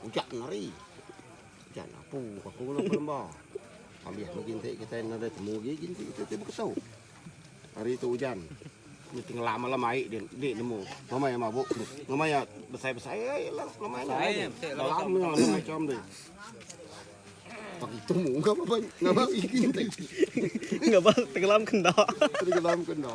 Ucak kenari. Ucak napu ka ku ngena pelemba. Abih megi enti kitai enda ada temu agi ginti kitai ti beketu. Hari tu ujan. Di tengela malam ai dia di nemu. Nama iya mabuk? Nama iya besai-besai ai lah nama iya. Besai nya besai lah. Dalam nya nama icom ti. Pak itu mu ngapa ban ngapa ginti. Ngapa tenggelam kenda. Tenggelam kenda.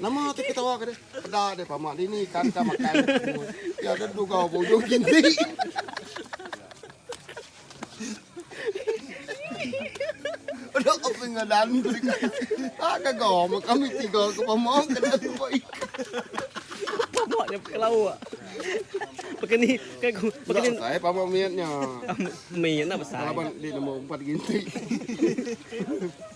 Nama ti ketawa ke deh? Peda deh pama dini ikan ka makan. Ti ada dugau bujung kinti. Ada apa ngadan tu ikan? Ah kagau mak kami tiga ke pama ke dah lupa ikan. Pama nya kelau. Pekeni ke ku pekeni. Tak saya pama miatnya. Miat nak besar. Laban di nombor 4 ginti.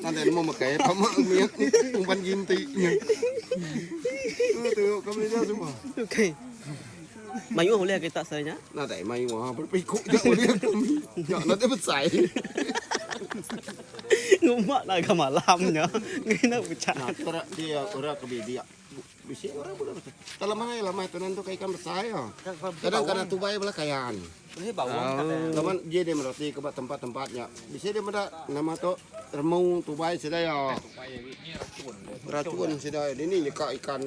Nanti nemu mekai apa mak miak umpan ginti. Tu tu kau beli dah semua. Okey. Mayuh boleh kita saya. Nah, tak mayuh ah berpiku tak boleh. Ya, nanti besai. Ngumak nak ke malamnya. Ngena pecah. Nah, dia orang ke bibiak. Bisi orang pun besar. Tak lama lagi lama tu nanti ikan besar ya. Kadang kadang tu bayar belah kayan. Bisi bawang oh. kata. Lama dia dia merati ke tempat-tempatnya. Bisi dia meda nama tu remu tu bayar sida ya. Racun sida. Ini nyekak ikan.